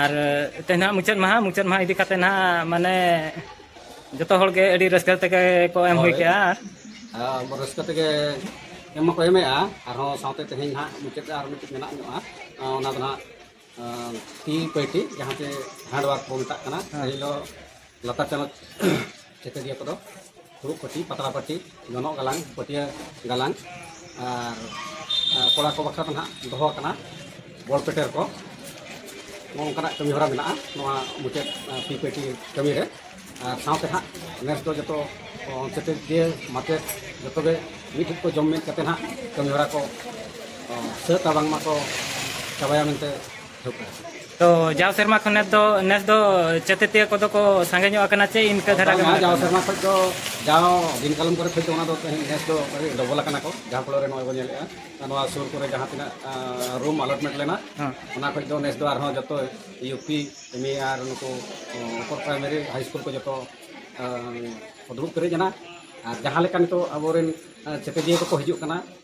ᱟᱨ ᱛᱮᱦᱮᱧ ᱦᱟᱸᱜ ᱢᱩᱪᱟᱹᱫ ᱢᱟᱦᱟ ᱢᱩᱪᱟᱹᱫ ᱢᱟᱦᱟ ᱤᱫᱤ ᱠᱟᱛᱮ ᱦᱟᱸᱜ ᱢᱟᱱᱮ ᱡᱚᱛᱚ ᱦᱚᱲ ᱜᱮ ᱟᱹᱰᱤ ᱨᱟᱹᱥᱠᱟᱹ ᱛᱮᱜᱮ ᱠᱚ ᱮᱢ ᱦᱩᱭ ᱠᱮᱜᱼᱟ ᱟᱨ ᱦᱳᱭ ᱨᱟᱹᱥᱠᱟᱹ ᱛᱮᱜᱮ ᱮᱢ ᱢᱟᱠᱚ ᱮᱢᱮᱜᱼᱟ ᱟᱨᱦᱚᱸ ᱥᱟᱶᱛᱮ ᱛᱮᱦᱮᱧ ᱦᱟᱸᱜ ᱢᱩᱪᱟᱹᱫ ᱟᱨ ᱢᱤᱫᱴᱤᱡ ᱢᱮᱱᱟᱜ ᱧᱚᱜᱼᱟ ᱚᱱᱟ ᱫᱚ ᱦᱟᱸᱜ ᱛᱤ ᱯᱟᱹᱴᱤ ᱡᱟᱦᱟᱸ ᱛᱮ ᱦᱮᱱᱰ ᱚᱣᱟᱨᱠ ᱵᱚᱱ ᱢᱮᱛᱟᱜ ᱠᱟᱱᱟ ᱯᱟᱹᱦᱤᱞ ᱫᱚ ᱞᱟᱛᱟᱨ ᱪᱟᱱᱟᱪ ᱪᱤᱛᱟᱹᱨᱤᱭᱟᱹ ᱠᱚᱫᱚ ᱯᱷᱩᱲᱩᱜ ᱯᱟᱹᱴᱤ ᱯᱟᱛᱲᱟ ᱯᱟᱹᱴᱤ ᱡᱚᱱᱚᱜ ᱜᱟᱞᱟᱝ ᱯᱟᱹᱴᱭᱟᱹ ᱜᱟᱞᱟᱝ ᱟᱨ ᱠᱚᱲᱟ ᱠᱚ ᱵᱟᱠᱷᱨᱟ ᱫᱚ ᱱᱟᱦᱟᱜ ᱫᱚᱦᱚ ᱟᱠᱟᱱᱟ ᱵᱚᱞ ᱯᱮᱴᱮᱨ ᱠᱚ ᱱᱚᱜᱼᱚ ᱱᱚᱝᱠᱟᱱᱟᱜ ᱠᱟᱹᱢᱤ ᱦᱚᱨᱟ ᱢᱮᱱᱟᱜᱼᱟ ᱱᱚᱣᱟ ᱢᱩᱪᱟᱹᱫ ᱯᱤ ᱯᱮᱴᱤ ᱠᱟᱹᱢᱤ ᱨᱮ ᱟᱨ ᱥᱟᱶᱛᱮ ᱱᱟᱦᱟᱜ ᱱᱮᱥ ᱫᱚ ᱡᱚᱛᱚ ᱪᱤᱛᱟᱹᱨᱤᱭᱟᱹ ᱢᱟᱪᱮᱫ ᱡᱚᱛᱚ ᱜᱮ ᱢᱤᱫ ᱴᱷᱮᱱ ᱠᱚ ᱡᱚᱢ ᱢᱤᱫ ᱠᱟᱛᱮ ᱱᱟᱦᱟᱜ ᱠᱟᱹᱢᱤ ᱦᱚᱨᱟ ᱠᱚ ᱥᱟᱹᱛᱟ ᱵᱟᱝᱢᱟ ᱠᱚ ᱪᱟᱵᱟᱭᱟ ᱢᱮᱱᱛᱮ ᱛᱚ ᱡᱟᱣ ᱥᱮᱨᱢᱟ ᱠᱷᱚᱱ ᱱᱮᱥ ᱫᱚ ᱱᱮᱥ ᱫᱚ ᱪᱮᱛᱮᱛᱤᱭᱟᱹ ᱠᱚᱫᱚ ᱠᱚ ᱥᱟᱸᱜᱮ ᱧᱚᱜ ᱟᱠᱟᱱᱟ ᱪᱮ ᱤᱱᱠᱟᱹ ᱫᱷᱟᱨᱟ ᱜᱮ ᱡᱟᱣ ᱥᱮᱨᱢᱟ ᱠᱷᱚᱱ ᱫᱚ ᱡᱟᱣ ᱫᱤᱱ ᱠᱟᱞᱚᱢ ᱠᱚᱨᱮ ᱠᱷᱚᱱ ᱫᱚ ᱚᱱᱟ ᱫᱚ ᱱᱮᱥ ᱫᱚ ᱰᱚᱵᱚᱞ ᱟᱠᱟᱱᱟ ᱠᱚ ᱡᱟᱦᱟᱸ ᱯᱷᱚᱞᱚ ᱨᱮ ᱱᱚᱜᱼᱚᱭ ᱵᱚᱱ ᱧᱮᱞᱮᱜᱼᱟ ᱱᱚᱣᱟ ᱥᱩᱨ ᱠᱚᱨᱮ ᱡᱟᱦᱟᱸ ᱛᱤᱱᱟᱹᱜ ᱨᱩᱢ ᱟᱞᱚᱴᱢᱮᱱᱴ ᱞᱮᱱᱟ ᱚᱱᱟ ᱠᱷᱚᱱ ᱫᱚ ᱱᱮᱥ ᱫᱚ ᱟᱨᱦᱚᱸ ᱡᱚᱛᱚ ᱤᱭᱩ ᱯᱤ ᱮᱢ ᱮ ᱟᱨ ᱱᱩᱠᱩ ᱩᱯᱚᱨ ᱯᱨᱟᱭᱢᱟᱨᱤ ᱦᱟᱭ ᱥᱠᱩᱞ ᱠᱚ ᱡᱚᱛᱚ ᱫᱩᱲᱩᱵ ᱯᱮᱨᱮᱡ ᱮᱱᱟ ᱟᱨ ᱡᱟᱦᱟᱸ ᱞᱮᱠᱟ ᱱᱤᱛᱚᱜ ᱟᱵᱚᱨᱮᱱ ᱪᱮᱛᱮᱛᱤᱭᱟᱹ ᱠᱚᱠᱚ ᱦᱤᱡᱩᱜ ᱠᱟᱱᱟ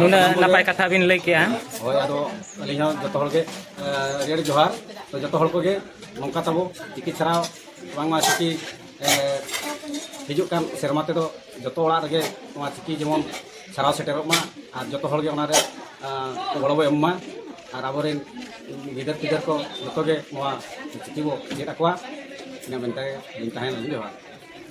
ᱱᱩᱱᱟᱹᱜ ᱱᱟᱯᱟᱭ ᱠᱟᱛᱷᱟ ᱵᱤᱱ ᱞᱟᱹᱭ ᱠᱮᱜᱼᱟ ᱦᱳᱭ ᱟᱫᱚ ᱟᱹᱞᱤᱧ ᱦᱚᱸ ᱡᱚᱛᱚ ᱦᱚᱲ ᱜᱮ ᱟᱹᱰᱤ ᱟᱹᱰᱤ ᱡᱚᱦᱟᱨ ᱛᱚ ᱡᱚᱛᱚ ᱦᱚᱲ ᱠᱚᱜᱮ ᱱᱚᱝᱠᱟ ᱛᱟᱵᱚ ᱪᱤᱠᱤ ᱪᱷᱟᱲᱟ ᱵᱟᱝᱢᱟ ᱪᱤᱠᱤ ᱦᱤᱡᱩᱜ ᱠᱟᱱ ᱥᱮᱨᱢᱟ ᱛᱮᱫᱚ ᱡᱚᱛᱚ ᱚᱲᱟᱜ ᱨᱮᱜᱮ ᱱᱚᱣᱟ ᱪᱤᱠᱤ ᱡᱮᱢᱚᱱ ᱪᱷᱟᱨᱟᱣ ᱥᱮᱴᱮᱨᱚᱜ ᱢᱟ ᱟᱨ ᱡᱚᱛᱚ ᱦᱚᱲ ᱜᱮ ᱚᱱᱟᱨᱮ ᱜᱚᱲᱚ ᱵᱚ ᱮᱢ ᱢᱟ ᱟᱨ ᱟᱵᱚᱨᱮᱱ ᱜᱤᱫᱟᱹᱨ ᱯᱤᱫᱟᱹᱨ ᱠᱚ ᱡᱚᱛᱚ ᱜᱮ ᱱᱚᱣᱟ ᱪᱤᱠᱤ ᱵᱚ ᱪᱮᱫ ᱟᱠᱚᱣᱟ ᱤᱱᱟᱹ ᱢᱮᱱᱛᱮ ᱤᱧ ᱛᱟᱦᱮᱱ ᱡᱚᱦᱟᱨ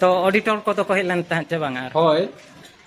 ᱛᱚ ᱚᱰᱤᱴᱚᱨ ᱠᱚᱫᱚ ᱠᱚ ᱦᱮᱡ ᱞᱮᱱ ᱛᱟᱦᱮᱸᱫ ᱪᱮ ᱵᱟᱝᱟ ᱦᱳᱭ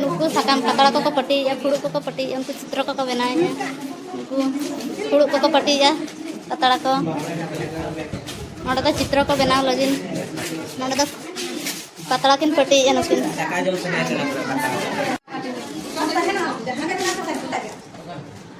ᱱᱩᱠᱩ ᱥᱟᱠᱟᱢ ᱯᱟᱛᱲᱟ ᱠᱚᱠᱚ ᱯᱟᱹᱴᱤᱭᱮᱫᱼᱟ ᱯᱷᱩᱲᱩᱜ ᱠᱚᱠᱚ ᱯᱟᱹᱴᱤᱭᱮᱫᱼᱟ ᱩᱱᱠᱩ ᱪᱤᱛᱨᱚ ᱠᱚᱠᱚ ᱵᱮᱱᱟᱣᱮᱫᱼᱟ ᱩᱱᱠᱩ ᱯᱷᱩᱲᱩᱜ ᱠᱚᱠᱚ ᱯᱟᱹᱴᱤᱭᱮᱫᱼᱟ ᱯᱟᱛᱲᱟ ᱠᱚ ᱱᱚᱰᱮ ᱫᱚ ᱪᱤᱛᱨᱚ ᱠᱚ ᱵᱮᱱᱟᱣ ᱞᱟᱹᱜᱤᱫ ᱱᱚᱰᱮ ᱫᱚ ᱯᱟᱛᱲᱟ ᱠᱤᱱ ᱯᱟᱹᱴᱤᱭᱮᱫᱼᱟ ᱱᱩᱠᱤᱱ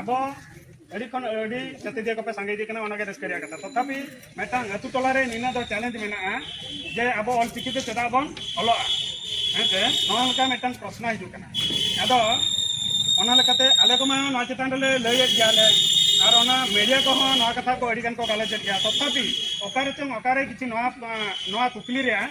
ᱟᱵᱚ ᱟᱹᱰᱤ ᱠᱷᱚᱱ ᱟᱹᱰᱤ ᱪᱟᱹᱛᱤᱫᱤᱭᱟᱹ ᱠᱚᱯᱮ ᱥᱟᱸᱜᱮ ᱤᱫᱤᱜ ᱠᱟᱱᱟ ᱚᱱᱟᱜᱮ ᱨᱟᱹᱥᱠᱟᱹ ᱨᱮᱭᱟᱜ ᱠᱟᱛᱷᱟ ᱛᱚᱛᱷᱟᱯᱤ ᱢᱤᱫᱴᱟᱝ ᱟᱹᱛᱩ ᱴᱚᱞᱟᱨᱮ ᱱᱤᱱᱟᱹ ᱫᱚ ᱪᱮᱞᱮᱧᱡᱽ ᱢᱮᱱᱟᱜᱼᱟ ᱡᱮ ᱟᱵᱚ ᱚᱞ ᱪᱤᱠᱤ ᱛᱮ ᱪᱮᱫᱟᱜ ᱵᱚᱱ ᱚᱞᱚᱜᱼᱟ ᱦᱮᱸᱥᱮ ᱱᱚᱣᱟ ᱞᱮᱠᱟ ᱢᱤᱫᱴᱟᱝ ᱯᱨᱚᱥᱱᱚ ᱦᱤᱡᱩᱜ ᱠᱟᱱᱟ ᱟᱫᱚ ᱚᱱᱟ ᱞᱮᱠᱟᱛᱮ ᱟᱞᱮ ᱠᱚᱢᱟ ᱱᱚᱣᱟ ᱪᱮᱛᱟᱱ ᱨᱮᱞᱮ ᱞᱟᱹᱭᱮᱫ ᱜᱮᱭᱟᱞᱮ ᱟᱨ ᱚᱱᱟ ᱢᱤᱰᱤᱭᱟ ᱠᱚᱦᱚᱸ ᱱᱚᱣᱟ ᱠᱟᱛᱷᱟ ᱠᱚ ᱟᱹᱰᱤ ᱜᱟᱱ ᱠᱚ ᱜᱟᱞᱚᱪᱮᱫ ᱜᱮᱭᱟ ᱛᱚᱛᱷᱟᱯᱤ ᱚᱠᱟᱨᱮ ᱪᱚᱝ ᱚᱠᱟᱨᱮ ᱠᱤᱪᱷᱩ ᱱᱚᱣᱟ ᱱᱚᱣᱟ ᱠᱩᱠᱞᱤ ᱨᱮᱭᱟᱜ